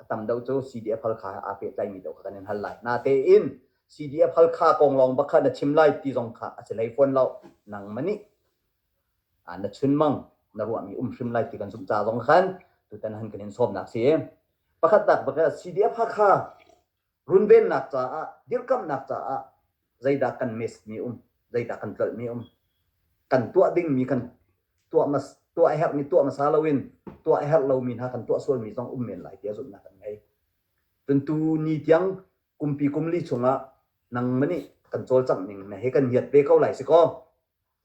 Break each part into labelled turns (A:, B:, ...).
A: a tam deuh cu CDF Halkha he aa pehtlaimi deuh kha kan in hal lai. Natein CDF Halkha kong lawng bak kha na chim lai ti zong kha a si hlei fawn lo. Nangmah nih na chunmang na ruahmi um hrim lai ti kan zumh ca zong khan tutan han kan in sawmnak si. Pakhat tak bak CDF Hakha runvennak caah, dirkamhnak caah zeidah kan mesmi um, zeidah kan tlolhmi um. Kan tuah dingmi kan tuah, mas, tuah herhmi tuah hmasa loin tuah herh lomi hna kan tuah sualmi zong um men lai tiah zumhnak kan ngei. Tuntu ni tiang kumpi kumli chungah nang mani kan cawlcangh ning na he kan hiat ve ko lai si ko.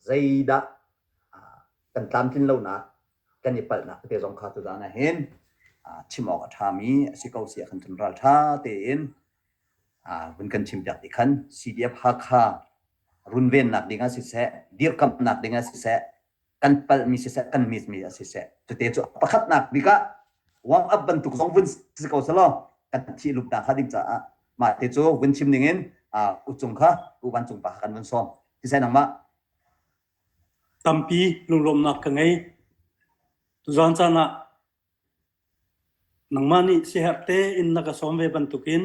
A: zeidah kan tlamtlin lonak kan i palhnak te zong kha tu zan ah hin chim awk a ṭhami a si ko sia kan kan ral ṭha tein vun kan chim piak ti khan CDF Hakha runvennak ding ah siseh dirkamhnak ding ah siseh kan palhmi siseh kan mitmi ah siseh cute cu pakhatnak bik ah warm up bantuk zong vun si ko selaw kan thi lup ta kha ding caah mah te cu vun chim ning in u cung kha u vancung pa kan vun sawm Kisai nangmah tampi
B: lunglawmnak ka ngei. Tuzan caan ah nangmah nih siherh te in na ka sawm ve bantukin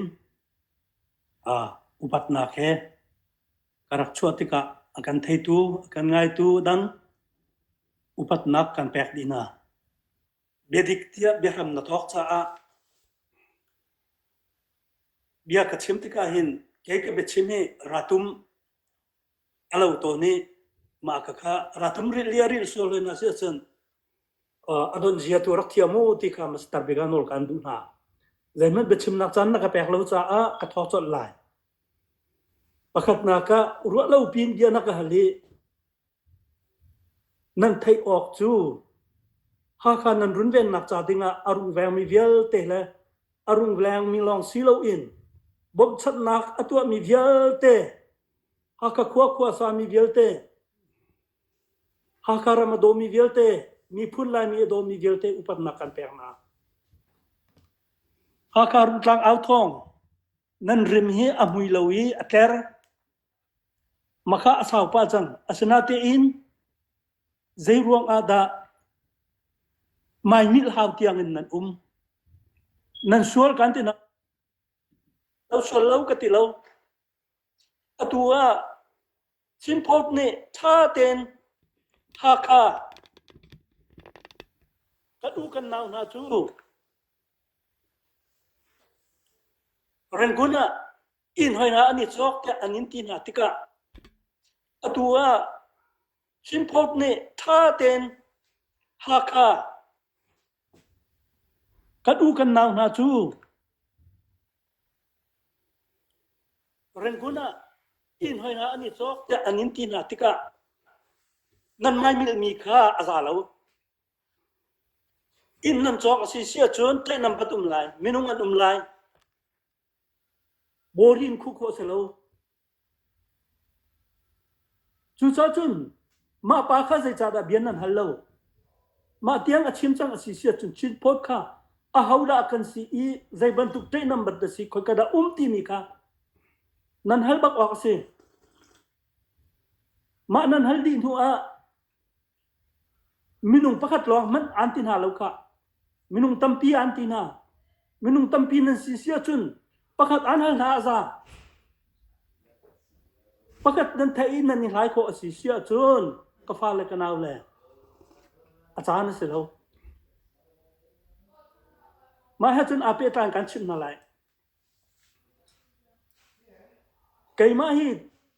B: a upatnak he ka rak chuah tikah a kan theitu, a kan ngaitu dan upatnak kan pek dihna. Biadik tiah biahram na thawk caah bia ka chim tikah hin kei ka biachim hi ratum a lo tawn i mah ka kha rathum ril lia ril sual hlen a si ahcun a don zia tu rak thiam u ti kha master bik ah nawl kan duh hna zeihmanh biachimnak caan na ka pek lo caah ka thawk colh lai pakhatnak ah ruah lo piin bia na ka hal i Nan theih awk cu Hakha nan runvennak ca dingah a rung vengmi vialte le a rung vengmi lawng si loin bawmhchanhnak a tuahmi vialte, Hakha khua khuasami vialte, Hakha ram a dawmi vialte, miphun Laimi a dawmi vialte upatnak kan pek hna. Hakha Rungtlang au thawng nan rim hi a hmui lo i a tler. Maka a sau pah cang. Asinatein zeiruang ah dah maimilhau tiang in nan um? Nan sual kan ti nak. Lo sual lo ka ti lo. Atu ah Chinpost nih ṭha tein Hakha kan u kan nau hna cu Rangoon ah inn hoi hna an i cawk tiah an in ti hna tikah atu ah Chin Post nih ṭha tein Hakha kan u kan nau hna cu Rangoon ah inn hoi hna an i cawk tiah an in ti hna tikah nan ngaimilmi kha a za lo. Inn nan cawk a si si ahcun tlaih nan pat um lai, minung an um lai, Bawhrin khuh khawh a si lo. Cucaah cun mah pa kha zeicahdah bia nan hal lo? Mah tiang a chim cang a si siah cun cheat phawt kha ahodah kan si i zei bantuk ṭaihnam bantuk si khoi ka dah um timi kha nan hal bak awk a si. Mah nan hal dih hnuah Minung pakhat lawng hmanh aan ti hna lo khah. Minung tampi aan ti hna. Minung tampi nan si si ahcun pakhat aan hal hna a za. Pakhat nan theih i nan i hlai khawh a si si ahcun ka fa le ka nau le a caan a si lo. Mah he cun aa pehtlai kan chimh hna lai. Keimah hi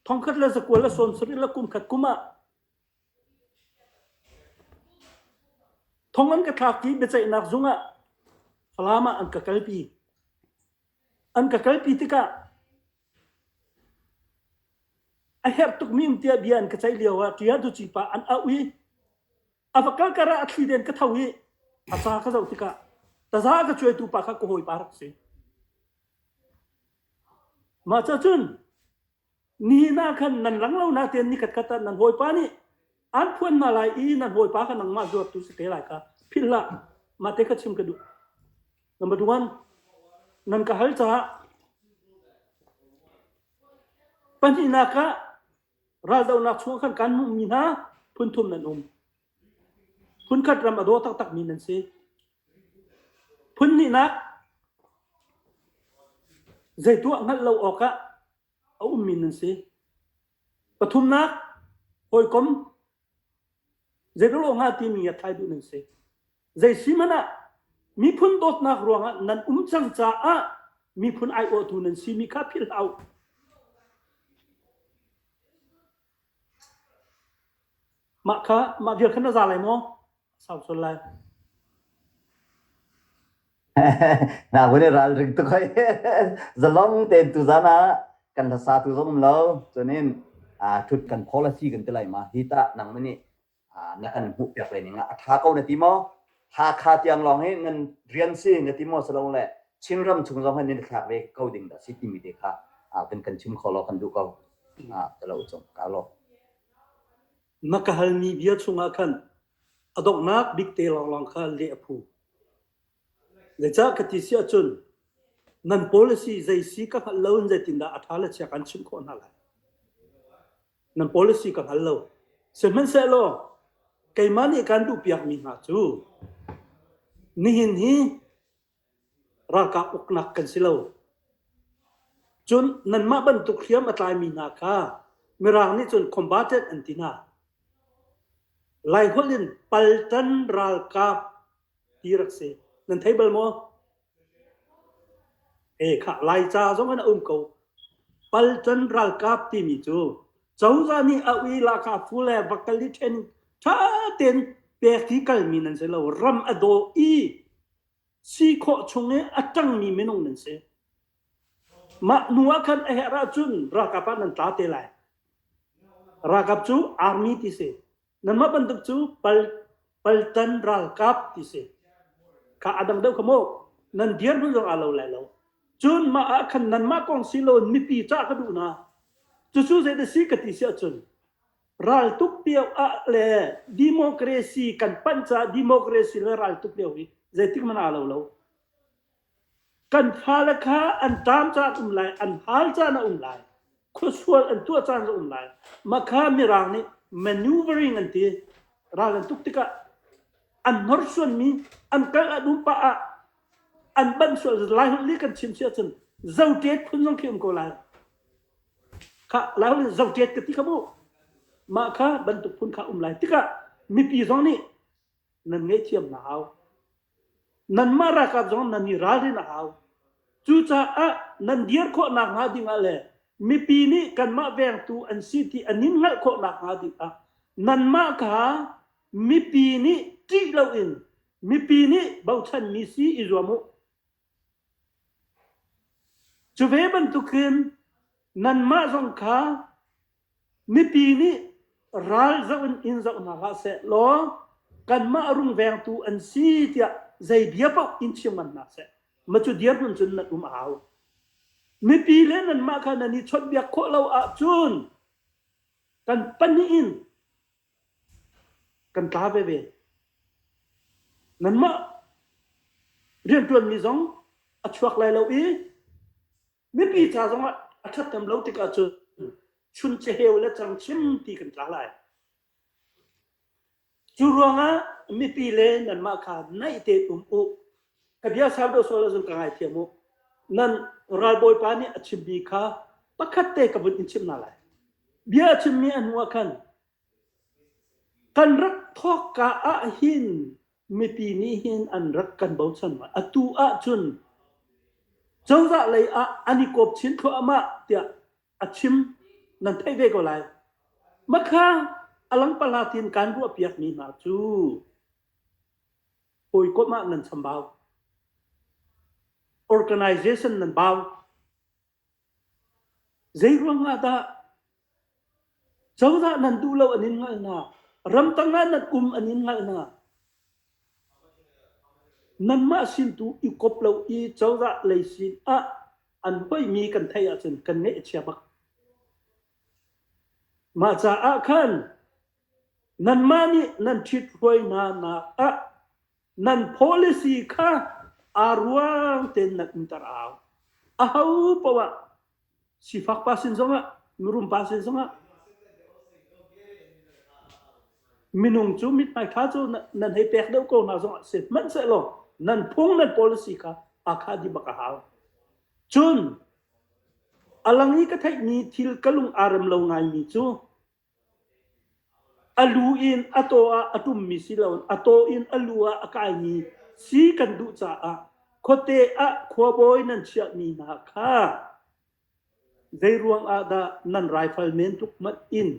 B: thongkhat le zakual le sawm sarih le kum khat kum ah Thong an ka thlak i biaceihnak zung ah Falam ah an ka kalpi. An ka kalpi tikah a herh tukmi um tiah bia an ka ceih lio ah ṭia duci pa an auh i a va kal kar ah a thli den ka tho i a ca ka zoh tikah taza ka cuaitu pa kha ka hawipa rak si. Mah cacun Nihin ah khan nan lang lo natein ni katkhat ah nan hawipa nih an phuan hna lai i nan hawipa kha nangmah zuartu si te lai ka philh hlah mate kha chim ka duh number one nan ka hal caah pahnihnak ah raldohnak chung khan kan hmuhmi hna phunthum nan um Phunkhat ram a daw taktakmi nan si. Phunhnihnak, zei tuah hngalh lo awkah a ummi nan si. Pathumnak, hawikom zeiral awngah timi a tlai duh nan si. Zei si hmanh ah miphun dawtnak ruangah nan um cang caah miphun aiawhtu nan simi kha philhhlah u.
A: Mah kha mah vial khan na za lai maw? Sau sual lai. Naku nih ralring tuk hoi. Zalong tein tu zan ah kan hlasa tu zong um lo. Cunin aa ṭhut kan khawl a si kan ti lai ma. Hi tah nang nih na kan hmuh piak le ning ah a tha ko na ti maw Hakha tiang lawng hi nan rian si na ti maw silo le Chinram chung zong hin nan thlak ve ko ding da si timi te kha kan kan chim kho lo kan duh ko ka lo chung ka lo na ka hal
B: ni bia chungah khan adonghnak bikte lawng kha le aphu le cha ka ti si achun nan policy zei si ka hngal lo in zeitin dah atha la chia kan chim khawh na lai nan policy ka hngal lo. Sihmanhsehlaw keimah nih kan duhpiakmi hna cu nihin hi ralkap uknak kan si lo. Cun nanmah bantuk hriam a tlaimi hna kha Mirang nih cun combatant an ti hna. Lai holh in paltan ralkap ti rak si. Nan thei bal maw? Ekhah Laica zong in a um ko. Palchan ralkap timi cu cozah nih a ui lahka phu le vakali ṭhen ṭha tein pek hi kalmi nan si lo. Ram a daw i si khawh chung i a ṭangmi minung nan si. Mah hnu ah khan a herh ahcun ralkap ah nan tla te lai. Ralkap cu army ti si. Nanmah bantuk cu pal paltan ralkap ti si. Kha adang deuh kha mu nan dir hnu zong a lo lai lo. Cun mah ah khan nanmah kong si lo mipi cah ka duh hna. Cucu zeidah si ka ti si ahcun raltuk pio ah le democracy kan panh caah democracy le raltuk lio hi zeitik man aa lo lo. Kan fale kha an taam caan a um lai, an hal caan a um lai, khuasual an tuah caan a um lai. Mah kha Mirang nih maneuvering an ti. Ral an tuk tikah an hnorsuanmi an karh a dum pah ah an banh sual. Lai holh nih kan chim si ahcun zoṭet phun zong khi um ko lai. Khah, Lai holh in zoṭet ka ti kha mu. Mah kha bantuk phun kha um lai tikah mipi zong nih nan ngaihthiam na hau. Nanmah ralkap zong nan i ralrin a hau. Cucaah nan dir khawh nakhnga dingah le mipi nih kanmah vengtu an si ti an in hngalh khawh nakhnga dingah nanmah kha mipi nih ṭih loin mipi nih bochanmi si i zuam u. Cu ve bantukin nanmah zong kha mipi nih ral zoh in in zoh hna hlah seh law kanmah rungvengtu an si tiah zei bia paoh in chim ngan hna seh. Ma cu dirhmun cun nan um a hau. Mipi le nanmah kha nan i chawnhbiak khawh lo ahcun kan pahnih in kan tla veve. Nanmah rianṭuanmi zong a chuak lai lo i mipi ca zong ah a ṭhathnem lo tik ahcun chun ceheu le cangchim ti kan tla lai. Cu ruangah mipi le nanmah kha naih tein um u. ka bia sau deuh sual ahcun ka ngaithiam u nan ralbawipa nih a chimmi kha pakhat te ka vun in chim na lai bia a chimmi a hnuah khan kan rak thawk ka ah hin mipi nih hin an rak kan bochan ma atu ah cun cozah lei ah an i kop chin thluahmah tiah a chim nan thei ve ko lai makha alang pala tin kan ruah piak mi hna cu hawikomh ah nan chambau. Organization nan bau. Zei ruang ah dah cozah nan duh lo an in ngalna ramtang ah nan um an in ngalna nanmah sin tu i kop lo i cozah lei sin ah an mi kan thei ahcun kan nge chia bak mah caah khan Nanmah nih nan ṭhithruainak ah nan policy kha aa ruang tein nan umter a hau. A ho poah sifak pa sin zongah, mirum pa sin zongah minung cu mithmai ṭha cu nan hei pek deuh ko hna zongah si hmanhsehlaw nan phung nan policy kha aa kha dih bak a hau. Cun a lang i ka theihmi thil ka lung aa rem lo ngaimi cu A lu in a taw ah a ṭummi si loin a taw in a lu ah a kaimi si kan duh caah khuate ah khuabawi nan chiahmi hna kha zeiruang ah dah nan raifal men tluk hmanh in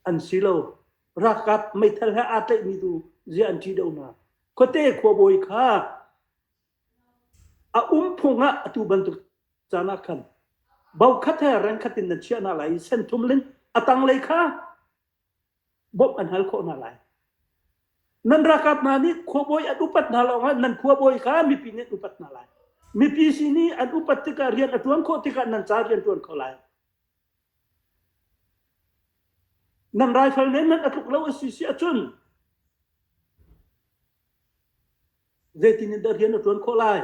B: an si lo. Ralkap meithal he aa tlaihmi tu ziah an ṭih deuh hna? Khuate khuabawi kha A umphung ah atu bantuk caan ah khan bokhat he rengkhat in nan chiah hna lai i senthum lin a tanglei kha bawmh an hal khawh hna lai. Nan rakap hna nih khuabawi an upat hna lawngah nan khuabawi kha mipi nih an upat hna lai. Mipi sin i an upat tikah rian a ṭuan khawh tikah nan ca rian ṭuan kho lai. Nan raifal nih nan a tluk lo a si si ahcun zeitin in dah rian a ṭuan khawh lai?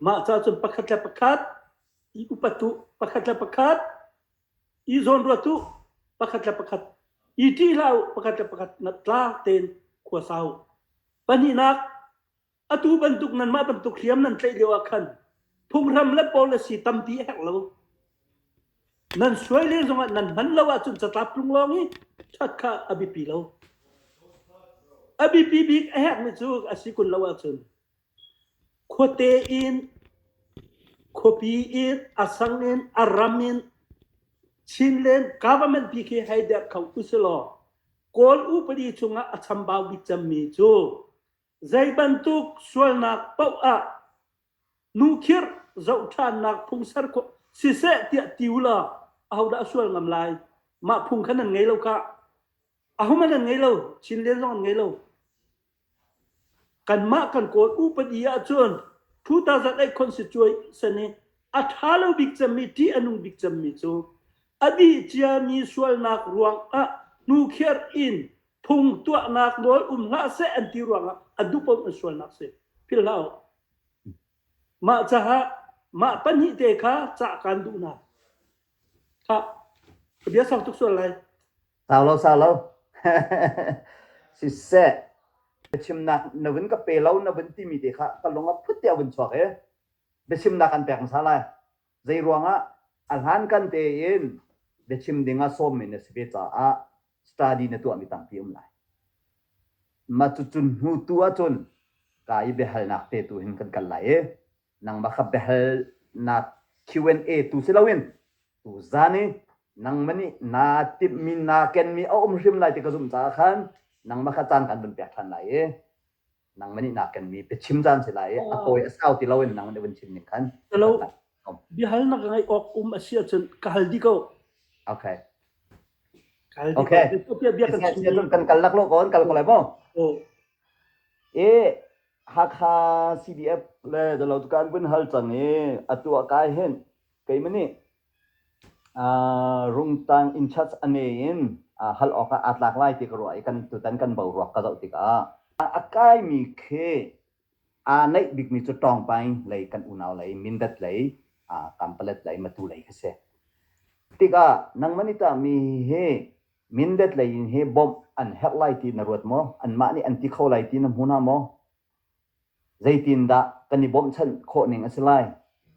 B: Mah cacun pakhat le pakhat i upat u, pakhat le pakhat i zawnruat u, pakhat le pakhat i ṭih hlah u, pakhat le pakhat tla tein khua sa u. Pahnihnak, Atu bantuk nanmah bantuk hriam nan tlaih lio ah khan phunghram le policy tampi a herh lo. Nan suai le zongah nan hman lo ahcun catlap tlung lawng i that kha a biapi lo. A biapi bik a herhmi cu a si kun lo ahcun khuate in, khuapi in, a sang in, a ram in, Chin len government pi khi hei der kho usih law Kawl upadi chungah a chambau bik cemmi cu Zeibantuk sualnak paoh ah nukhirh zoh ṭhannak phung ser khawh siseh tiah ti u law ahodah a sual ngam lai? Mah phung kha nan ngei lo kah? Ahum an ngei lo, Chin Lian zong an ngei lo. Kanmah kan kawl upadi ahcun 2008 constitution i a ṭha lo bik cemmi ṭih a nung bik cemmi cu a dih ciami sualnak ruangah nukhirh in phung tuahnak nawl um hlah seh an ti ruangah a duhpom an sualnak si phil hlah u mah caah mah pahnih te kha cah kan duh na kha bia sang tuk sual lai sau lo sau lo
A: si se biachimnak na vun ka pe lo na vun timi te kha ka lung a phut te vun chuak e biachimnak kan pek masa lai Zeiruangah? A hlankan tein biachim ding ah sawmmi na si ve caah study na tuahmi tampi um lai. Mah cucun hnu tu ahcun ka i biahalnak te tu hin kan kal lai i nangmah kha biahalnak Q&A tu si loin tu zan i nangmah nih naa timhmi naa kenmi a um hrim lai ti ka zumh caah khan nangmah kha caan kan vun pek ṭhan lai i nangman nih naa kenmi biachim caan si lai i a hawi a sau ti loin nangman i vun chim ning khan Halo.
B: biahalnak ngeih awk um a si ahcun ka hal dih ko okay ka hal dih okay ko bia bia kan chim
A: siahcun
B: kan kal lak lo
A: kon kal ko lai maw
B: i
A: Hakha CDF le Dalo tukan vun hal cang i atu a kai hin keimani Rumtang inchurch a ngei in hal awkah aa tlak lai ti ka ruah i tutan kan boruak ka zoh tikah a kaimi khi aa neih bikmi cu Tawngpaing lei kan unau lei Mindat lei Kanpalet lei Matu lei khi si. Tikah nangmah nih tah mi hi Mindat lei in hi bawmh an herh lai ti na ruat maw? Anmah nih an ti kho lai ti na hmu hna maw? Zeitindah kan i bawmhchanh khawh ning a si lai?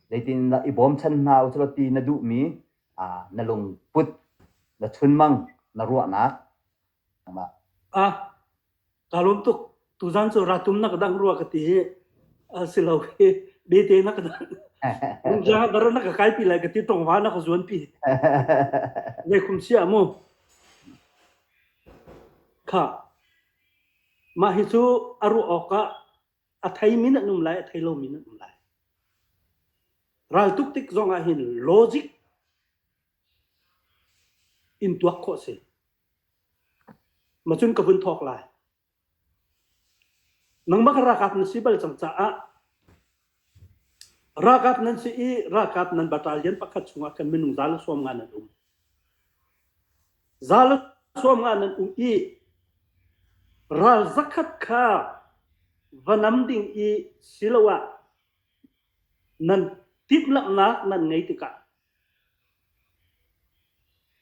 A: Zeitindah i bawmchan hna u silaw ti na duhmi na lungput, na chunmang, na ruahnak.
B: Kaa lawm tuk. Tuzan cu ratum na ka dangh rua ka ti hi si lo hi bete na ka dangh. Mungja dara na ka kai pi lai ka ti tongva na ka zuan pi. Nei khum sia mu. Kha. Mah hi cu a ruah awkah a theimi an um lai, a thei lomi an um lai. Raltuk tik zong ah hin logic in tuak khawh si. Ma cun ka vun thawk lai. Nangmah ka rakap na si bal cang caah Ralkap nan si i ralkap nan battalion pakhat chungah khan minung za le sawm nga nan um. Za le sawm nga nan um i ral zakhat kha va nam ding i siloah nan timhlamhnak nan ngei tikah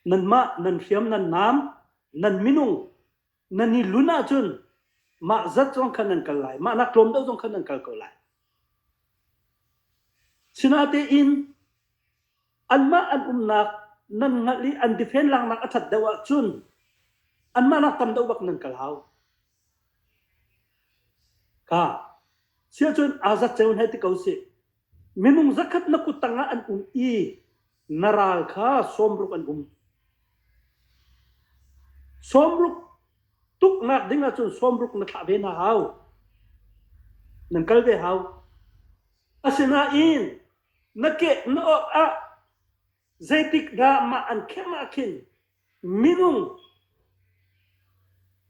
B: nanmah nan hriam nan nam nan minung Nan i lun ahcun mah zat zong khan nan kal lai. Mahnak tlawm deuh zong khan nan kal ko lai. Sinatein anmah an umnak nan ngalh i an defen laknak a ṭhat deuh ahcun anmah nak tam deuh bak nan kal hau. Ka siahcun azat ceu he ti ko sih. Minung zakhat na kut tangah an um i na ral kha sawmruk an um. Sawmruk tuknak ding ahcun sawmruk na thlah ve na hau. Nan kal ve hau. Asinain na kek na awt ah zeitik dah mah an khem ah khin Minung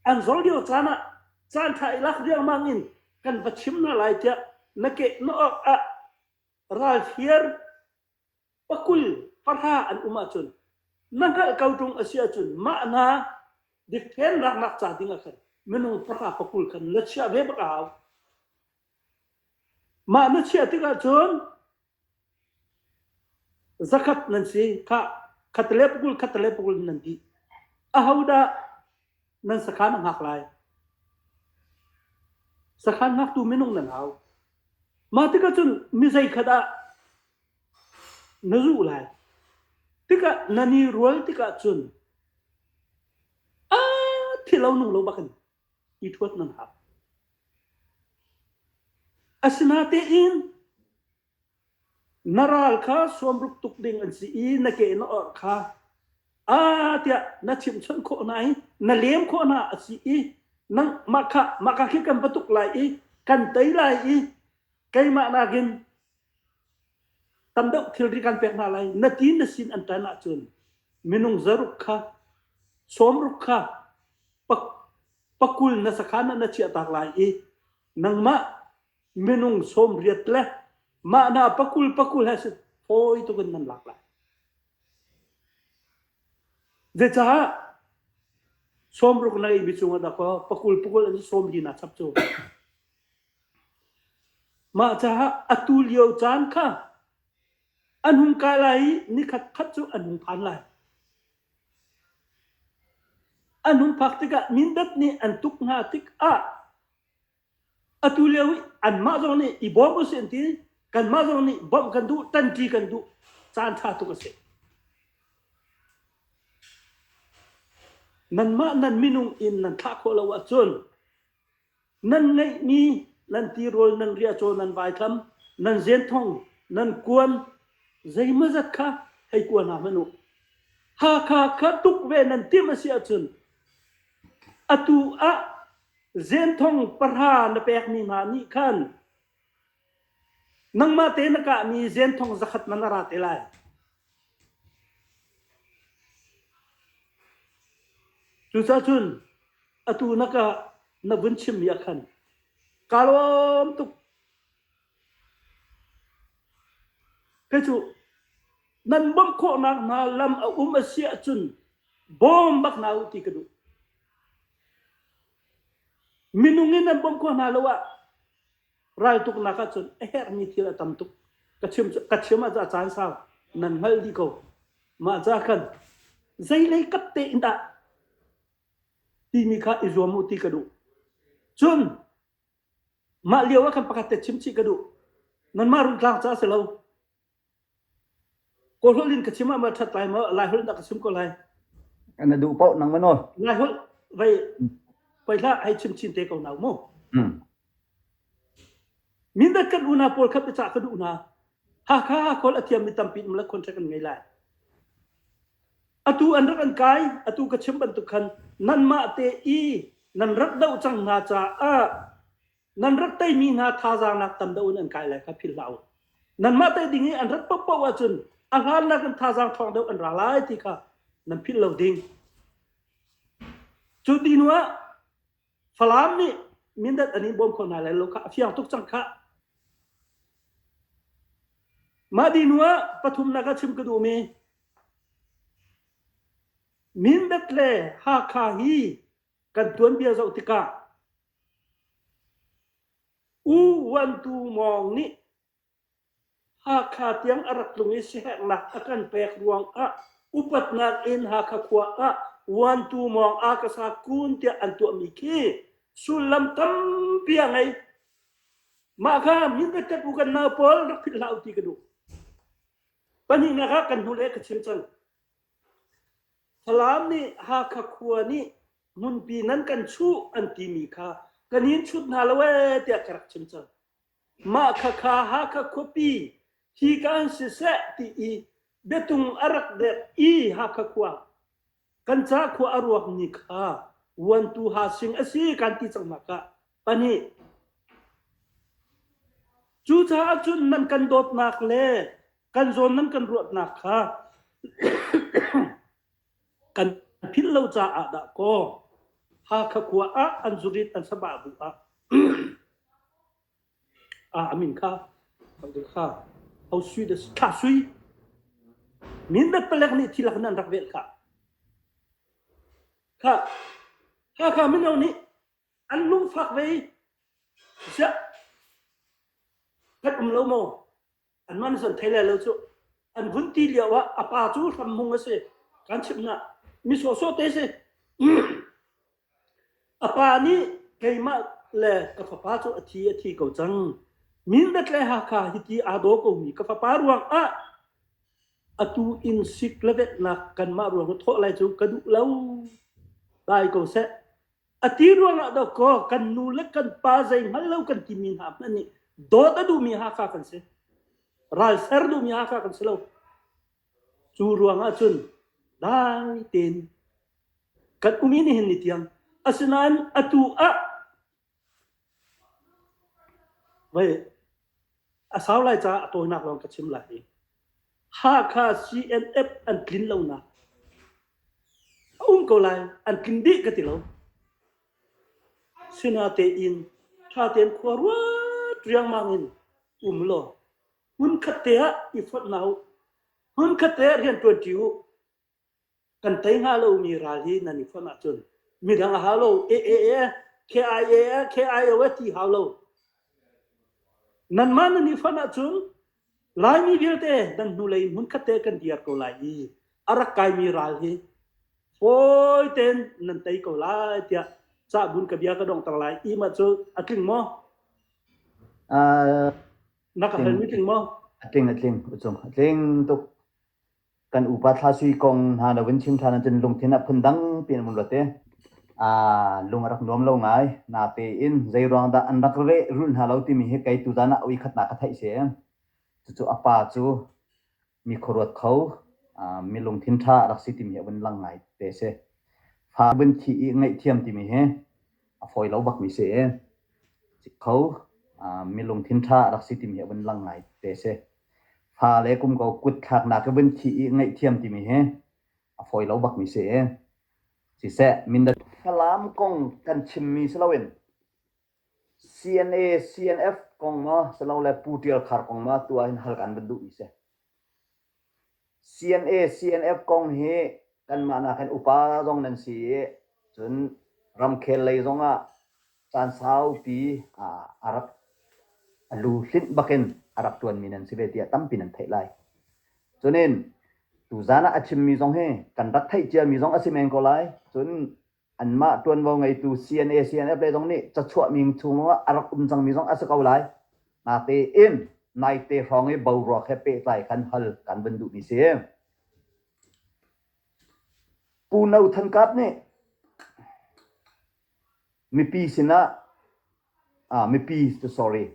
B: an zol lio caan ah caanṭha i lak riangmang in kan va chim hna lai tiah na keh na awk ah ralthiar pakul pahra an um ahcun na hngalh ko ṭung a si ahcun mah hna dikthlen raknak ca dingah khan minung pahra pakul khan na chiah ve bak a hau. Mah na chiah tikah cun zakhat nan si. Khah, khat le pakul, khat le pakul in nan dih. Ahodah nan sakhan a hngak lai? Sakhan hngaktu minung nan hau. Mah tikah cun mi zeikhat ah na zuh lai. Tikah nan i rual tikah cun aa thi lo nung lo bak in. Asinatein na ral kha suamruk tuk ding an si i na ke na orh kha a tiah na chimchun khawh hna i na lem khawh hna a si i nang maka maka khi kan patuk lai i kan tei lai i keimah nakin Tam deuh thilri kan pek hna lai. Na ti na sin an ṭan ahcun minung zaruk kha, sawmruk kha pakul na sakhan ah na chiahtak lai i nangmah minung sawmriat le mah na pakul pakul he fawi tukin nan lak lai. Zeicah sawmruk na ngeihmi cungah na pakul pakul an sawmri na chap cu. Mah caah atu lio caan kha a nung ka lai i nikhat khat cu a nung phan lai. A nun phak tikah Mindat nih an tuk hna tikah atu lio i anmah zong nih i bawm usih an ti. Kanmah zong nih bawmh kan duh, ṭanṭi kan duh. Caan ṭha tuk a si. Nanmah nan minung in nan thlah khawh lo ahcun Nan ngeihmi nan tirawl nan riahcaw nan vaithlam nan zenthong nan kuan zeimazat kha hei kua hna hmanh u. Hakha kha tuk ve nan timh a si ahcun atu ah zenthong pahra na pekmi hna nih khan Nangmah te na kahmi zenthong zakhat man a ra te lai. Cucaah cun atu na ka na vun chimmi ah khan kaa lawm tuk. Kei cu nan bawmh khawhnak hna lam a um a si ahcun bawm bak hna u ti ka duh. Minung in nan bawmh khawh hna lo ah Raltuknak ahcun a herhmi thil a tam tuk. Ka chim ka chim ah caan sau nan hngal dih ko. Mah ca khan zeilei kap te in dah timi kha i zuam u ti ka duh. Cun mah lio ah khan pakhat te chimchih ka duh. Nanmah rungtlang ca si lo. Kawlholh in ka chim ah, mah ṭhat lai maw? Laiholh in a ka sum ko lai. Na duh
A: paoh nang manaw? Laiholh
B: vai poi hlah hei chim chin te ko nau mu. Mm. Mindat kan unaa pawl kha biacah kan unaa. Hakha kawlh a thiam mi tampi in mala contract an ngei lai. Atu an rak an kai, atu ka chim bantuk khan nan mah te i nan rak doh cang hna caah nan rat teimi hna thazaangnak tam deuh in an kai lai kha philh hlah u. Nanmah tei ding i an rat pohpoh ahcun a hlannak in thazaang thawng deuh an ra lai ti kha nan philh lo ding. Cu dinu ah Falam nih mindat an in bawm kho hna lai lo kha a fiang tuk cang khah. Mah dinu ah pathumnak a chim ka duhmi Mindat le Hakha hi kan tuanbia zoh tikah U Van Tu Mawng nih Hakha tiang a rak tlung i siherhnak a kan pek ruangah upatnak in Hakha khua ah Van Tu Mawng Akasa kun tiah an tuahmi khi sullam tampi a ngei. Mah kha minpetek u kan nau pawl rak philh hlah u ti ka duh. Pahnihnak ah kan hnuleh ka chim cang. Falam nih Hakha khua nih ngunpi nan kan chuh an timi kha kan hin chut hna lo ee tiah ka rak chim cang. Mah khakha Hakha khuapi hi ka an siseh ti i biatung a rak dek i Hakha khua kan ca khua a ruak ni kha vuantu ha sing a si kan ti cang hna kah. Pahnih. Cucaah cun nan kan dawtnak le kan zawn nan kan ruatnak kha kan philh lo caah dah kaw Hakha khua ah an zurit an saba bu ah ah amin kha kha hau sui de thla sui min dat palek nih thilak nan rak vel kha kha kha kha mino nih an lungfak ve siah kan um lo maw an man zon thei lo cu an hun ti lio ah a pa cu hram mung a si kan chim na mi so so te si a pa nih keimah le ka fapa cu a thi a thi ko cang min dat le ha kha hi ti ado ko mi ka fapa ruang ah atu in sik levet nak kan ma ruang thawh lai cu ka duh lo dai ko seh A ti ruangah do kaw kan nu le kan pa zei hngal lo kan timi hna hmanh nih dawt a duhmi Hakha kan si. Ral ser duhmi Hakha kan si lo. Cu ruangah cun dai tein kan umi nih hin ni tiang asinain atu ah voi a sau lai caah a tawinak lawng ka chim lai hi. Hakha CNF an tlin lonak a um ko lai, an tling dih ka ti lo. Sinatein thatein khua ruat riangmang in um law hmun khat te ah i fawt na u. Hmun khat te ah rian tuanṭi u. kan tei hnga lomi ral hi nan i fonh ahcun midang a hau lo AAA KIAA KIO ti hau lo nanmah nan i fonh ahcun Laimi vialte nan hnulei hmunkhat te kan dir ko lai i a rak kaimi ral hi fawi ten nan tei ko lai tiah cahbun ka bia ka dongtang lai ima cu a tling maw na ka hal mi tling maw a tling a tling
A: ucung a tling tuk kan upa thlasui kong hna lo in chim ṭhan ahcun lungthin ah phundang piin an vun luat i aa lung a rak nuam lo ngai. Natein zei ruang dah an rak reh rulh hna lo timi hi kei tuzan ah voikhatnak ka theih si e. Cucu a pa cu mi khuaruat kho, aa mi lungthin ṭha a rak si timi hi a vun lang ngai te si. Fa vun thih i ngaihthiam timi hi a fawi lo bakmi si e. Cik kho, aa mi lungthin ṭha a rak si timi hi a vun lang ngai te si. fa le kumko kut thlaknak hi vun thih i ngaihthiam timi hi a fawi lo bakmi si i siseh Mindat Falam kong kan chimmi si loin CNA CNF kong maw si lo le Pu Tial Khar kong maw tu ah hin hal kan van duhmi si. CNA, CNF kong hi kanmah nakin upa zong nan si i cun ramkhel lei zong ah caan saupi a rak a lu hlinh bakin a rak ṭuanmi nan si ve tiah tampi nan theih lai. Cunin tuzan ah a chimmi zong hi kan rak theih ciami zong a si men ko lai. Cun anmah ṭuanvo ngeitu CNA CNF le zong nih cachuahmi chung ah a rak um cangmi zong a si ko lai. Nate in naite hrawng i boruak he pehtlai kan hal kan van duhmi si. Pu No Than Kap nih mipi sinah mipi cu sorry.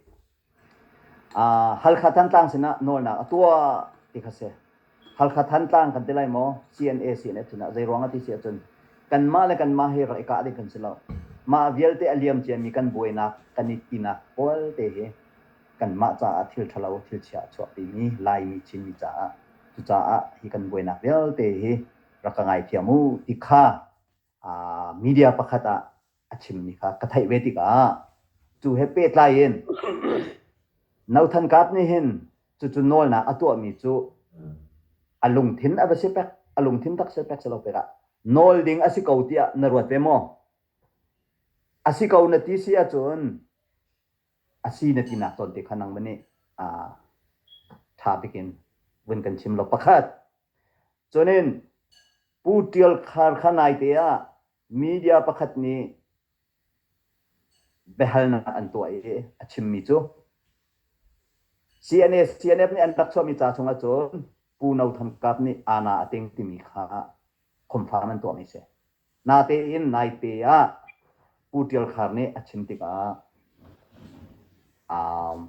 A: Uh, Halkha Thantlang sinah nawlnak a tuah ti kha si. Halkha Thantlang kan ti lai maw? CNA CNF sinah zeiruang a ti si ahcun kanmah le kanmah hi rak i kah ding kan si lo. Mah vialte a liam ciami kan buainak, kan i tinak palte hi kanmah caah thil ṭhalo, thil chia a chuahpimi, Laimi Chinmi caah cucaah hi kan buainak vialte hi rak ka ngaithiam u ti kha media pakhat ah a chimmi kha ka theih ve tikah cu he pehtlai in Nothan Kaap nih hin cucu nawlnak a tuahmi cu a lungthin a va si pek a lungthin tak si pek si lo pek ah nawl ding a si ko tiah na ruat ve maw a si ko na ti si ahcun a si na tinak cawn te kha nangmah nih ṭha pikin vun kan chim law pakhat cunin pu ṭial khar kha naite ah media pakhat nih biahalnak an tuah i a chimmi cu CNF CNF nih an rak chuahmi ca chungah cun Pu No Tham Kap nih Ana a teng timi kha confirm an tuahmi a si. Natein naite ah Pu Ṭial Khar nih a chim tikah um,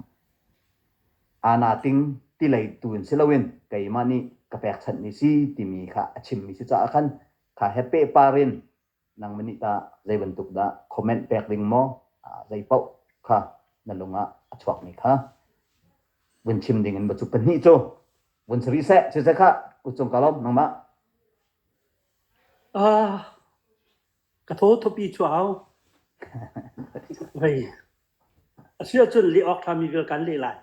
A: Ana Ting tilei tu in si loin keimah nih ka pekchanh ni si timi kha a chimmi si caah khan kha he pehpar in nangmah nih tah zei bantuk dah comment pek ding maw zei paoh kha na lungah a chuakmi kha vun chim ding in va cu pahnih cu vun si rih seh cucu khah kucung ka lawm nangmah Ka
B: thaw thawpi cu a hau. A si ahcun leh awk ṭhami
A: vial kan leh lai.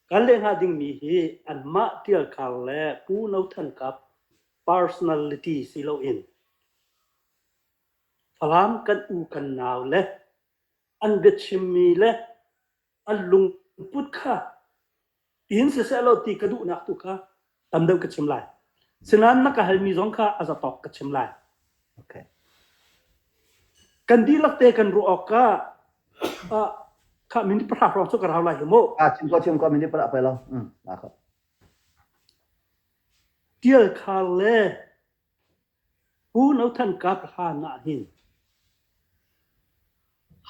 A: Kan leh hnga dingmi
B: hi anmah ṭialkhar le pu no thankap personality si loin Falam kan u kan nau le an biachimmi le an lungput kha in siseh law ti ka duhnak tu kha tam deuh ka chim lai.
A: Sinain na ka halmi zong kha a zatawk ka chim lai. Okay. Kan dihlak te
B: kan ruah awk ka ah kha minti pahra hrawng cu ka rau lai hi mu.
A: Ah chim ko chim ko minti pahra pe lo. Mm. La ko. Tial khar le pu no than ka ka ha na hin.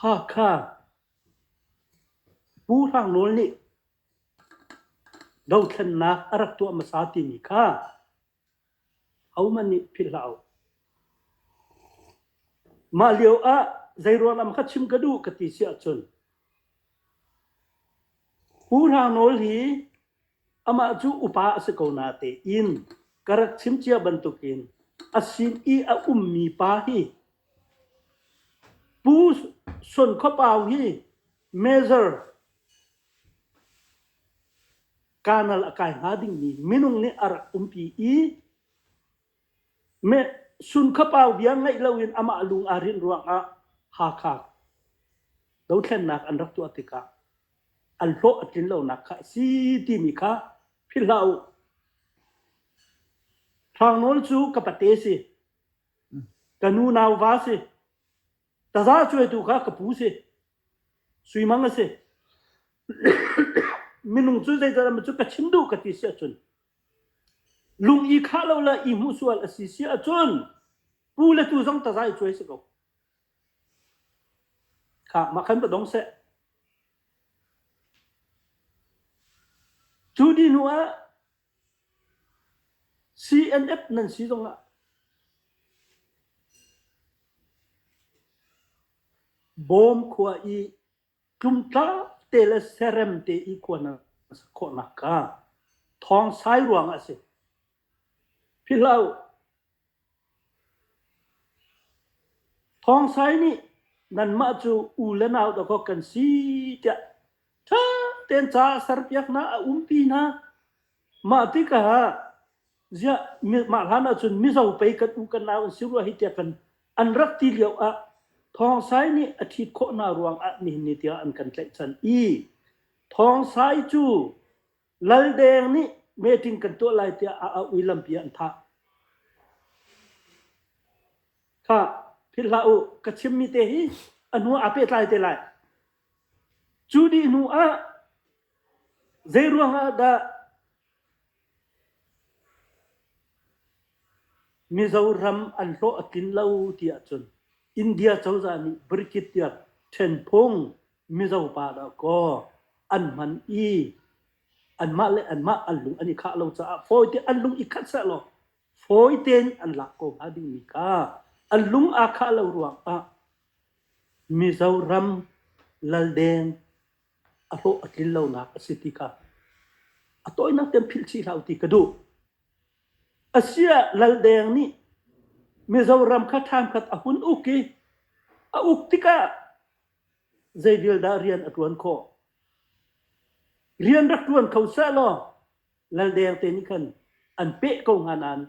A: Hakha Pu Hrang Nawl nih dothlennak a rak tuah hmasa timi kha hohmanh nih philh hlah uh. Mah lio ah
B: zei ruangah kha chim ka duh ka ti si ahcun Pu Hrang Nawl hi Amah cu upa a si ko natein ka rak chim cia bantukin a sin i a ummi pa hi Pu Son Khua Pau hi Major kanal a kai hnga dingmi minung nih a rak umpi i Meh sunkhapau bia ngaih loin amah lung aa rinh ruangah Hakha dothlennak an rak tuah tikah an hlawh a tlin lonak kha a si timi kha philh hlah u. Hrang Nawl cu ka pate si, ka nu nauva si, taza cuaitu kha ka pu si, sui mang a si. Minung cu zeital cu ka chim duh ka ti si ahcun Lung i khah lo le i hmuhsual a si si ahcun pu le tu zong tazai a cuai si ko. Kha mah khan va dong seh. Cu di hnu ah CNF nan si zong ah bawm khua i Tlumtlang te le serem te i kuan a si khawh nakhnga thawng sai ruangah a si. Philhlo. Thawng sai nih nanmah cu u le nau dawkawk kan si tiah ṭha tein ca a serpiak hna, a umpi hna. Mah tikah ziah mah hlan ahcun Mizo pei kan u kan nau an si rua hi tiah kan an rak ti lio ah Thawng Sai nih a ṭhit khawh hna ruangah nihin ni tiang an kan tlaihchan i Thawng Sai cu Lal Deng nih meeting kan tuah lai tiah a auh i lampi an thah. Kha philh hlah u ka chimmi te hi a hnu ah aa pehtlai te lai. Cu dih hnu ah Zeiruangah dah Mizoram an hlawh a tlin lo ti ahcun India cozah nih Bricket tiah ṭhenphung Mizo pa dahkaw an hman i anmah le anmah an lung an i khah lo caah fawite an lung i khat sehlaw fawitein an lak ko hnga dingmi kha an lung aa khah lo ruangah Mizoram laldeng a hlawh a tlin lonak a si ti kha a tawinak tiang philh chih hlah u ti ka duh. Asia Laldeng nih Mizoram kha thamkhat a hun uk i a uk tikah zei vial dah rian a ṭuan khawh? Rian rak ṭuan kho sah law Laldeng te nih khan an peh ko hnga nain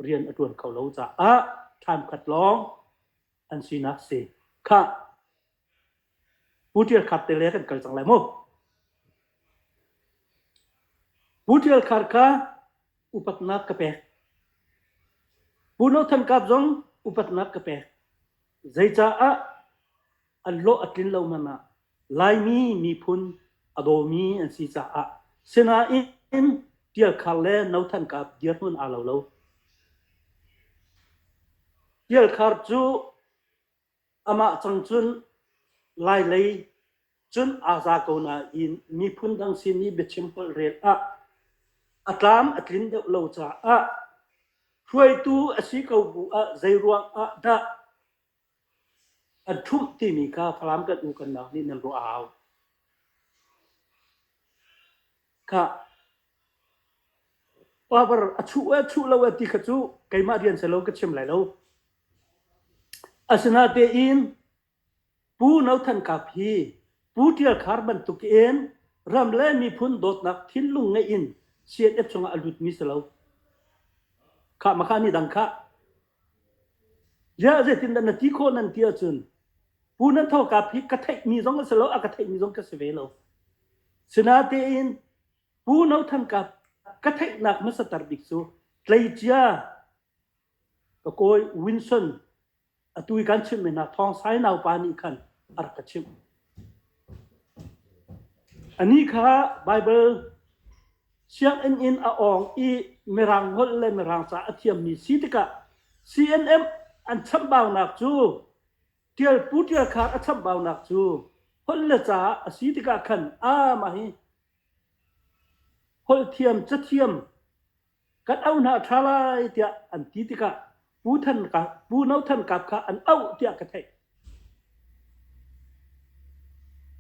B: rian a ṭuan kho lo caah thamkhat lawng an sinak si. Khah, Pu Ṭial Khar te le kan kal cang lai maw? Pu Ṭial Khar kha upatnak ka pek. Pu No Than Kap zong upatnak ka pek. Zeicaah an hlawh a tlin lo man ah Laimi miphun a dawmi an si caah. Sinain Ṭial Khar le No Than Kap dirhmun aa lo lo. Ṭial Khar cu Amah cang cun Lailei cun aa za ko nain miphun dang sin i biachim holh rel ah a tlam a tlin deuh lo caah hruaitu a si ko bu ah zeiruang ah dah an ṭhumh timi kha Falam kan u kan nau nih nan ruah a hau. Power a chuh e, a chuh lo e ti kha cu keimah rian silo ka chim lai lo. Asinatein Pu No Than Kap hi Pu Ṭial Khar bantuk in ram le miphun dawtnak thinlung ngeih in CNF chungah a lutmi si lo. Khah, maka nih dang khah. Ziah zeitindah na ti khawh nan ti ahcun pu nan thawkap hi ka theihmi zong a si lo, a ka theihmi zong ka si ve lo. Sinatein Pu No Than Kap ka theihnak hmasatar bik cu tleicia ka kawi Winson atu i kan chimh mi hna Thawng Sai naupa nih khan a rak ka chimh. A ni kha Baibal sianginn in a awng i Mirang holh le Mirang ca a thiammi si tikah CNM an chambaunak cu ṭial pu ṭial khar a chambaunak cu holh le ca a si tikah khan a mah hi holh thiam, cathiam, kan au hna a ṭha lai tiah an ti tikah Pu, Than Kap, Pu No Than Kap kha an auh tiah ka theih.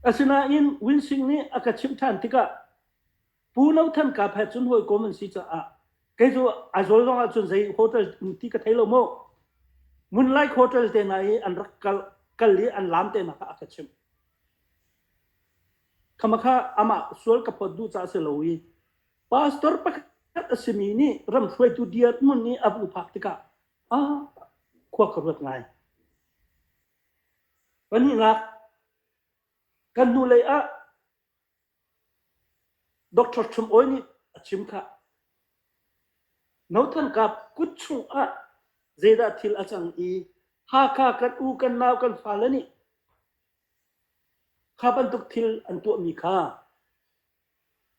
B: Asinain Win Sing nih a ka chimh ṭhan tikah Pu No Than Kap he cun hawikom an si caah kei cu a zawl zong ahcun zei hotel ti ka thei lo maw? Moonlight Hotel te hna i an rak kal, kal i an lam te hna kha a ka chimh. Khama kha amah sual ka phawt duh caah a si lo i Pastor pakhat a simi nih ramhruaitu dirhmun i a vung phak tikah ah khua ka ruat ngai. Pahnihnak, kan hnulei ah Dr. Trump Awi nih a chim kha. Nothan kap kut chung ah zeidah thil a cang i Hakha kan u kan nau kan fale nih kha bantuk thil an tuahmi kha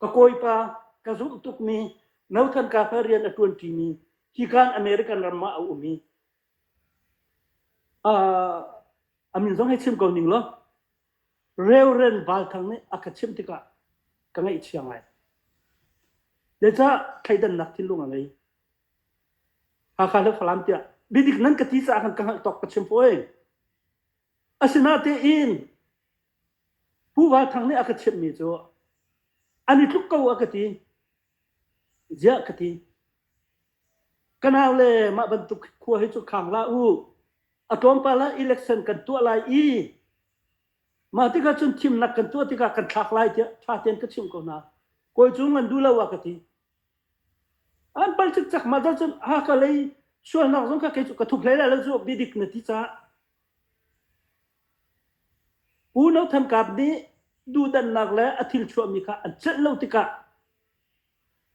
B: Ka kawipa, ka zumh tukmi, nauthlan ka fel rian a ṭuanṭimi hi khan American ram ah a um i uh, a min zong hei chim ko ning law Reverend Val Thang nih a ka chimh tikah ka ngaihchia ngai. Zeicah thleidannak thinlung a ngei? Hakha le Falam tiah bidik nan ka ti caah kan ka hngalh tawk ka chim poi. Asinatein Pu Val Thang nih a ka thiammi cu an i tluk ko a ka ti. Ziah ka ti. Ka nau le mah bantuk khua hi cu khang la u. A tlawmpal ah election kan tuah lai i mah tikah cun thimnak kan tuah tikah kan thlak lai tiah ṭha tein ka chimh ko hna. Kawi Cung an duh lo a ka ti. An pal cikcek mah cun cun Hakalei sualnak zong ka kei cu ka thup hlei lai lo cu biadik na ti caah.
A: Pu No Tham Kap nih duhdanhnak le a thil chuahmi kha a celh lo tikah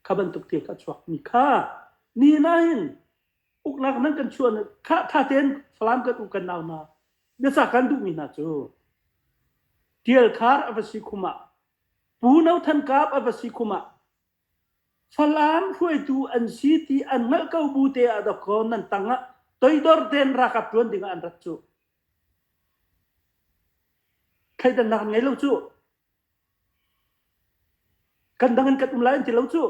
A: kha bantuk thil kha a chuakmi kha ni nahin uknak nan kan chuah kha tha tein Falam kan u kan nau hna biasa kan duhmi hna cu Tial Khar a va si khum ah Pu No Than Kap a va si khum ah Falam hruaitu an si ti an hngalh ko bu te ah dawkhaw nan tang ah toidor tein ralkap ṭuan ding ah an rat cu. Thleidannak an ngei lo cu. Kan dang in kan um lai an ti lo cu.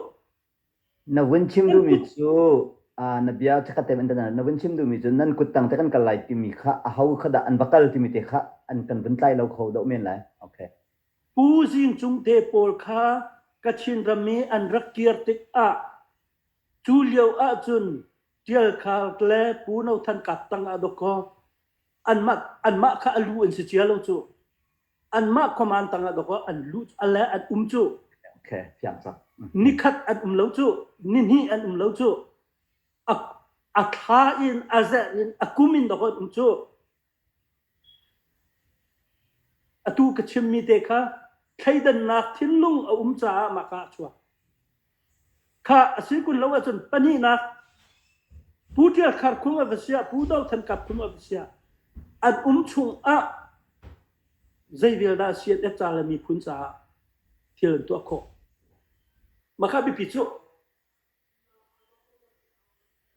A: Na vun chim duhmi cu na bia cu ka tem na vun chim duhmi cu nan kut tang te kan kal lai timi kha aho kha dah an va kal timi te kha an kan vun tlai lo kho dawh men lai. Okay. Pu Zing Cung te pawl kha
B: Kachin ram i an rak kir tikah cu lio ahcun Ṭial Khar le Pu No Than Kap tang ah dawk kaw anmah anmah kha a lu an si cia lo cu.
A: Anmah khuaman tang ah dawk kaw an lu a le an um cu. Okay, fiang cang. Nikhat an um lo cu, nihnih an um lo cu. A, a thla in a zer in a kum in
B: dawk an um cu. Atu ka chimmi te kha thleidannak thinlung a um caah mah ka ah a chuak. Khah a si kun lo ahcun pahnihnak Pu Ṭial Khar Khum a va siah, Pu Do Than Kap Khum a va siah, an um chung ah zei vial dah a si an et ca le miphun caah thil an tuah khawh. Mah kha biapi cu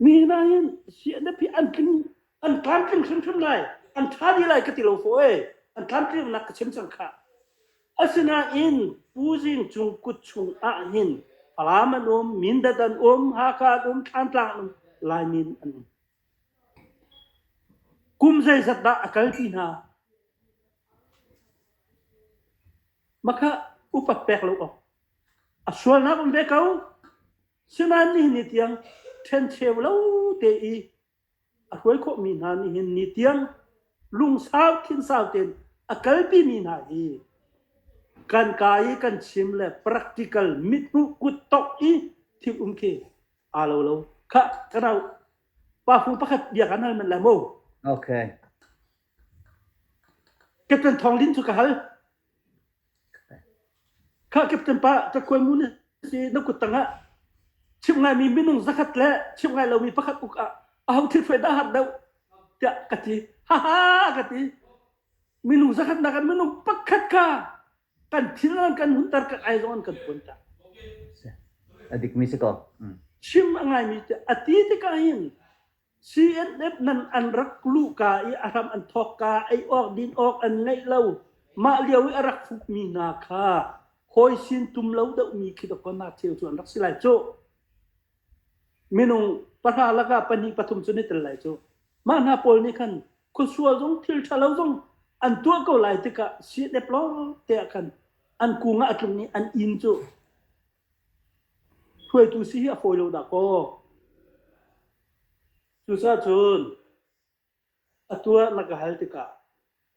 B: Mi hna hin CNF hi an tling an tlamtling hrimhrim lai an ṭha dih lai ka ti lo fo e an tlamtlinnak ka chim cang kha asinain Pu Zing cung kut chung ah hin Falam an um Mindat an um Hakha an um Thlantlang an um Laimin an um kum zeizat dah a kal ti hna Makhah upat pek lo awk a sualnak um ve ko. Sinain nihin ni tiang ṭhencheu lo te i a hruai khawhmi hna nihin ni tiang lungsau thinsau tein a kalpi mi hna hi kan ka i kan chim le practical mithmuh kuttawk i thil um khi aa lo lo. Khah, kanau pafu pakhat bia kan hal men le mu. Okay. Captain Thawng Lin cu ka hal. Kha Captain pa Takhuai mu na si na kut tangah chimh ngaimi minung zakhat le chimh ngai lomi pakhat uk ah aho thil fai dah har deuh tiah ka ti. Ha ha ka ti. Minung zakhatnak ah minung pakhat ka kan thil an kan hunter kan ai zong an kan puan ta.
A: A dikmi si ko. Chim a
B: ngaimi tiah a ti tikah hin CNF nan an rak luh ka i a hram an thawk ka ei awk din awk an ngeih lo. Mah lio i a rak hrukmi hna kha hawi sin tum lo deuhmi khi doktor na cheu cu an rak si lai cu. Minung pahra laka pahnih pathum cu ni tel lai cu. Mah hna pawl nih khan khuasual zong thil ṭha lo zong an tuah ko lai tikah CNF lawng te ah khan an kung ah a tlung i an in cu Hruaitu si hi a fawi lo dah kaw. Cucaah cun a tu ah na ka hal tikah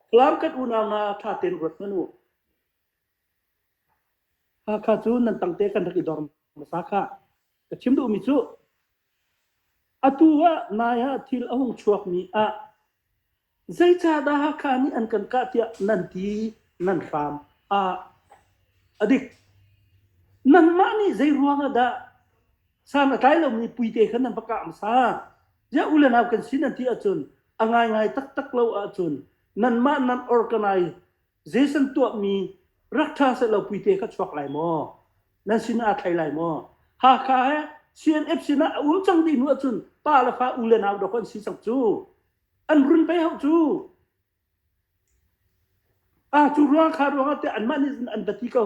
B: Falam kan unau hna ṭha tein ruat hmanh u. Hakha cu nan tangte kan rak i dor hmasa kha. Ka chim duhmi cu atu ah nai ah thil a hung chuakmi ah Zeicahdah Hakha nih an kan kah tiah nan ti, nan hram ah a dik. Nanmah nih zei ruangah dah san a tlai lomi puite kha nan va kah hmasa? Ziah u le nau kan si nan ti ahcun a ngaingai taktak lo ahcun nanmah nan organize Jason tuahmi rak ṭha sehlaw puite kha chuak lai maw? Nan sinah aa thlai lai maw? Hakha he CNF sinah a ul cang dih hnu ahcun pa le fa u le nau dawk an si cang cu. An run pei hauh cu! Ah, cu ruang kha ruangah tiah anmah nih cun an bati ko.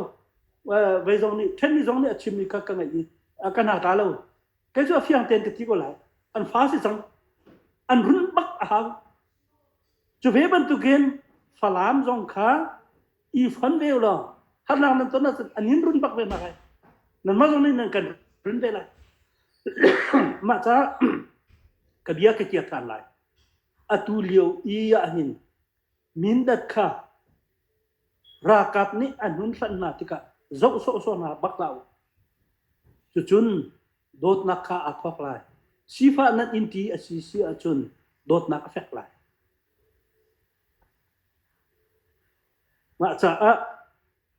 B: Uh, vei zong nih, ṭhenmi zong nih a chimmi kha ka ngaih i uh, ka hna ta lo. Kei cu a fiang tein ka ti ko lai. An fa si cang. An run bak a hau. Cu ve bantukin Falam zong kha i fon ve lo harnak nan ton ahcun anin run bak ve nak ai nan ma zong nih nan kan run ve lai mah ca ka bia ka kiak than lai atu lio i ahhin mindat kha rakap nih an hun hlan hna tikah zoh sawh sawh hna bak la u cucun dawtnak kha aa thawk lai sifah nan in ti a si si ahcun dawtnak a fek lai Mah caah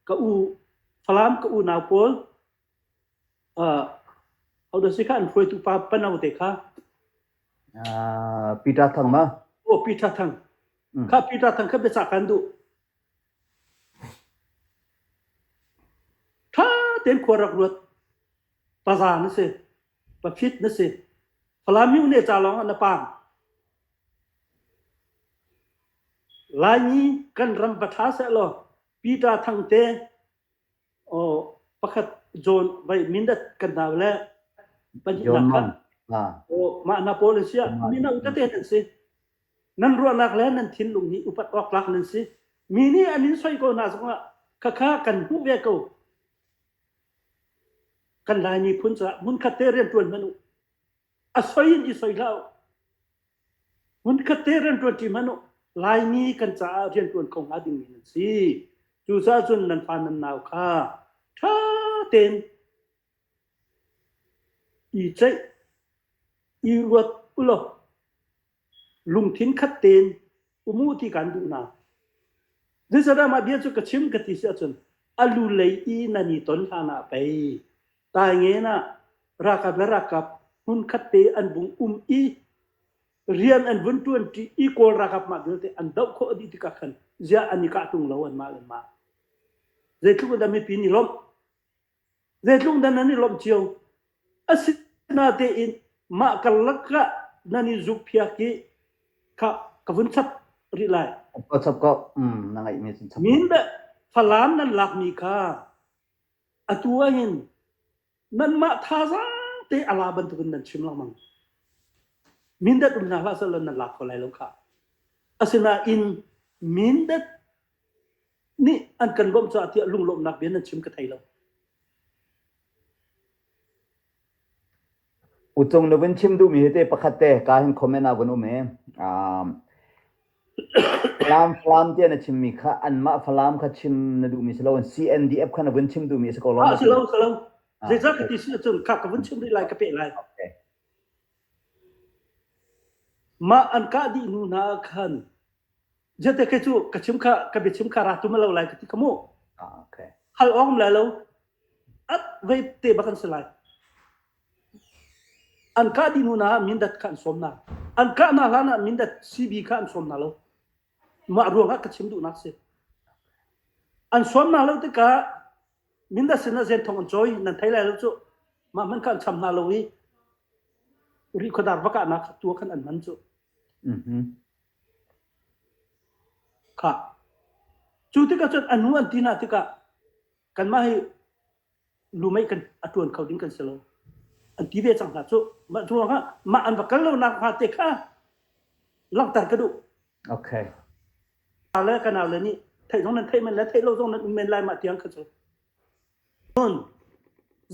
B: ka u Falam ka unau pawl uh how does it kha an hruaitu pa pano te kha uh,
A: Peter Thang ma oh Peter Thang
B: mm. kha Peter Thang kha biacah kan duh tha ten khuarak ruat paza na si paphit na si Falam yu ne cha long na pang Laimi kan ram va ṭha seh law Peter Thang te pakhat John vai mindat kan hna le pahnihnak kha mah hna pawl an si ah mino tete nan si. Nan ruahnak le nan thinlung hi upat awk tlak nan si. Mi nih an in soi ko hna zongah khakha kan hmuh ve ko. Kan Laimi phun caah hmunkhat te rian ṭuan hmanh u. a soi in i soi hlah uh. Hmunkhat te rian ṭuan ṭi hmanh uh. Laimi kan caah rian ṭuan kho hnga dingmi nan si. Cucaah cun nan fa nan nau kha ṭha tein i ceih, i ruat ulaw lungthin khat tein um u ti kan duh hna. Zeicahdah mah bia cu ka chim ka ti si ahcun alu lei i nan i ton hlan ah pei tai ngen ah rakap le rakap hmun khat te an vung um i rian an vun ṭuanṭi i kawl rakap mah vialte an doh khawh dih tikah khan ziah an i kah ṭung lo an mah le mah zeitluk in dah mipi nih lawmh Zeitluk nan an i lawmh cio. Asinatein mah karlak ah nan i zukphiak i kha ka vun chap rih lai. Ka chap ko. Mm,
A: na ngaihmi cu chap. Min le
B: Falam nan lakmi kha atu ahhin nanmah thazaang te a la bantukin nan chim lengmang. Mindat um hna hlah seh law nan lak ko lai lo khah. Asinain Mindat nih an kan lawmh caah tiah lunglawmhnak bia nan chim ka thei lo.
A: Ucung lovin chim duhmi hi te pakhat te ka hin comment ah gun um hi Falam Falam te na chimmi kha anmah Falam kha chim na duhmi si lo CNDF kha na vun chim duhmi si ko lom Ah si lo si lo
B: zeicah ka ti si cun ka ka vun chim rih lai ka peh lai mah an kah dih hnu hna khan Ziate ke cu ka chim kha ka biachim kha ra tum lo lai ka ti ka mu. Ah okay.
A: Hal awm lai lo.
B: At vei te ba kan si lai. An ka di nu na mindat ka an som na. An ka na hlan ah mindat CB ka an som na lo. Ma ruang ha ka chim du nak si. An som na lo te ka mindat sin na zen thong an choi nan thai lai lo chu. Ma man ka an cham na lo i ri khadar baka nak tua kan an man chu. Mhm. Khah. Cu tikah cun a nu an ti hna tikah kanmah hi lumeih kan a ṭuan kho ding kan si lo, an ti ve cang hna cuh. Mah ruangah mah an
A: va kal lonak hnga te kha langhter ka duh. Okay. Kanau le kanau le nih theih zong nan theih men le theih lo zong nan um men lai mah tiang kha
B: cu. Cun,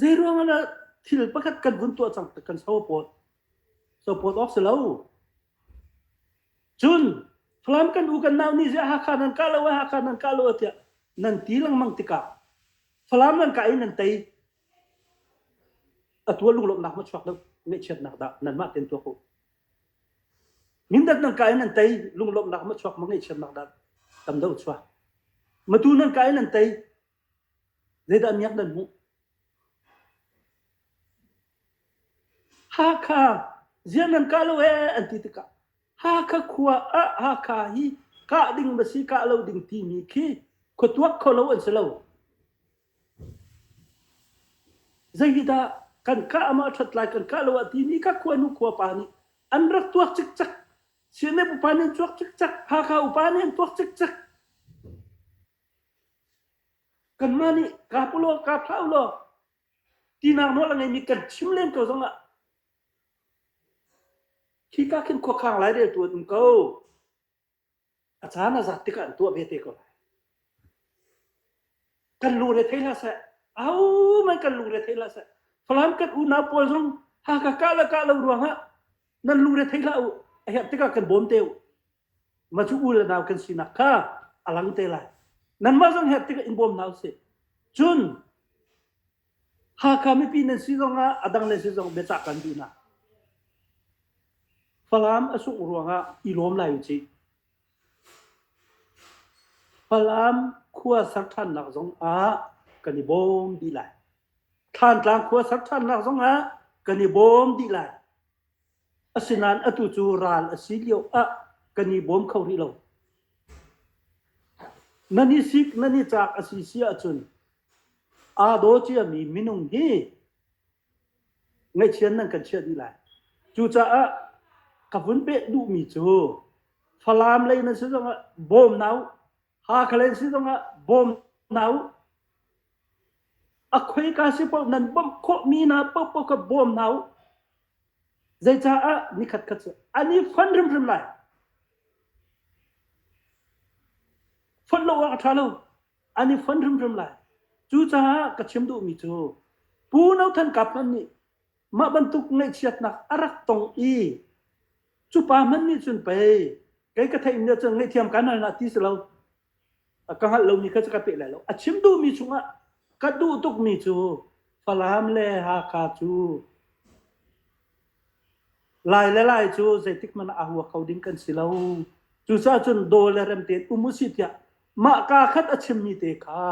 B: zei ruangah le thil pakhat kan vun tuah cang kan so pawl. Cophawt awk si lo. Cun Falam kan u kan nau nih ziah Hakha nan kah lo ai Hakha nan kah lo ai tiah nan ti lengmang tikah Falam nan kah i nan tei a tua lunglawmhnak maw chuak lo ngeihchiatnak dah nanmah ten tuak u. Mindat nan kai nan tei lunglawmhnak ma chuak ma ngeihchiatnak dah tam do chuak. Matu nan kai nan tei Zeidah miak nan hmuh? Hakha ziah nan kah lo ee an ti tikah Hakha khua ah Hakha hi kah ding ma si kah lo ding timi khi khuatuak kho lo an si lo. Zei hi dah kan kah amah ṭhat lai kan kah lo ah timi ka khua nu khua pa nih an rak tuak cikcak. Sianep upa nih an tuak cikcak. Hakha upa nih an tuak cikcak. Kanmah nih kaa pawh law kaa thlah u law tinak nawl a ngeimi kan chim len ko zongah khika khin khuakhang laireltu an um ko. A caan a zat tikah an tuah ve te ko lai. Kan lungre thei hlah seh. Au mai kan lungre thei hlah seh. Falam kan unau pawl zong Hakha kah le kah lo ruangah nan lungre thei hlah u. A herh tikah kan bawm te u. Matu u le nau kan sinak kha a lang te lai. Nanmah zong her tikah in bawm hna usih. Cun Hakha mipi nan si zong ah a dang le si zong biacah kan duh hna. Falam a sungh ruangah i lawm lai usih. Falam khua ser ṭhannak zong ah kan i bawm dih lai. Thlantlang khua ser ṭhannak zong ah kan i bawm dih lai. Asinain atu cu ral a si lio ah kan i bawm kho rih lo. Nan i sik, nan i cak a si si ahcun aa daw ciami minung hi ngaihchian nan kan chiah dih lai. Cucaah ka vun peh duhmi cu Falam lei nan si zongah bawm na u. Hakhaleng si zongah bawm hna u. A khoi ka si paoh nan bawmh khawhmi hna paoh paoh ka bawm hna u. Zeicaah ni khat khat cu an i fon hrimhrim lai. Fonh lo awk a ṭha lo. An i fon hrimhrim lai. Cucaah ka chim duhmi cu Pu No Than Kap hmanh nih Mah bantuk ngaihchiatnak a rak tong i cu pa hmanh nih cun pei kei ka theih nih cun ngaihthiam kan hal na ti si lo ka hngalh lo mi kha ka peh lai lo a chim duhmi chungah ka duh tukmi cu Falam le Hakha cu lai le lai cu zeitik man a hua kho ding kan si lo cucaah cun daw le rem tein um usih tiah mah ka khat a chimmi te kha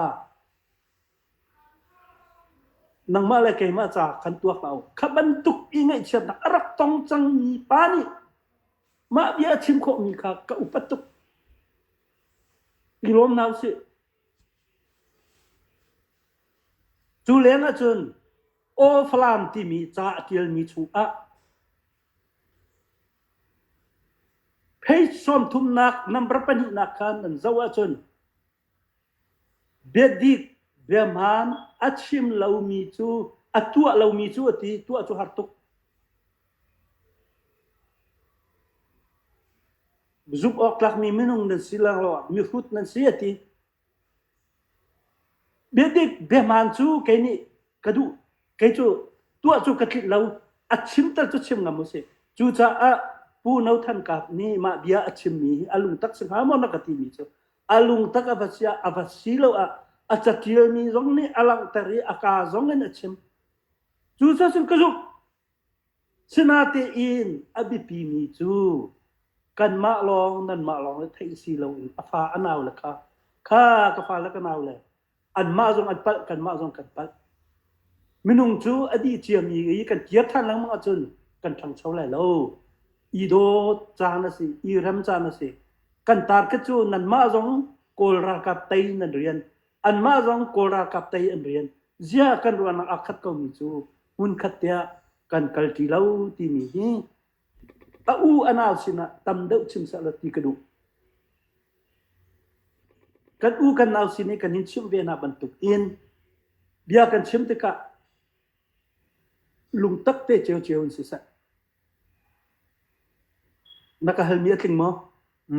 B: Nangmah le keimah ca kan tuak hlah u. Kha bantuk i ngaihchiatnak a rak tong cangmi pa nih mah bia a chim khawhmi kha ka upat tuk. I lawm hna usih. Cu leng ahcun Aw Falam timi ca a ṭialmi chungah page sawmthumnak number pahnihnak kha nan zoh ahcun Biadih biahmaan a chim lomi cu a tuah lomi cu a ti, tuah cu har tuk. Zumh awk tlakmi minung nan si lo, mihrut nan si a ti. Biadik biahmaan cu kei nih ka duh, kei cu tuah cu ka tlinh lo, a chimter cu chim ngam u si. Cucaah Pu No Than Kap nih mah bia a chimmi hi a lungtak si hnga maw na ka timi cu A lungtak a va siah a va si lo ah a catialmi zong nih a langhter i a kaa zong in a chim. Cu cun ka zumh. Sinatein a biapimi cu kanmah lawng nanmah lawng le theih si loin a fa a nau le kha kha ka fa le ka nau le anmah zong an palh kanmah zong kan palh minung cu a dih ciami i kan kir than lengmang ahcun kan ṭhangcho lai lo i dawt caan a si i rem caan a si kan target cu nanmah zong kawl ralkap tei nan rian anmah zong kawl ralkap tei an rian ziah kan ruahnak aa khat komi cu hmunkhat tiah kan kal ti lo timi hi A u a nau sinah tam deuh chim sehla ti ka duh. Kan u kan nau sin i kan in chimh ve hna bantuk in bia kan chim tikah lungtak te ceu ceu in si seh. Na ka halmi a tling maw?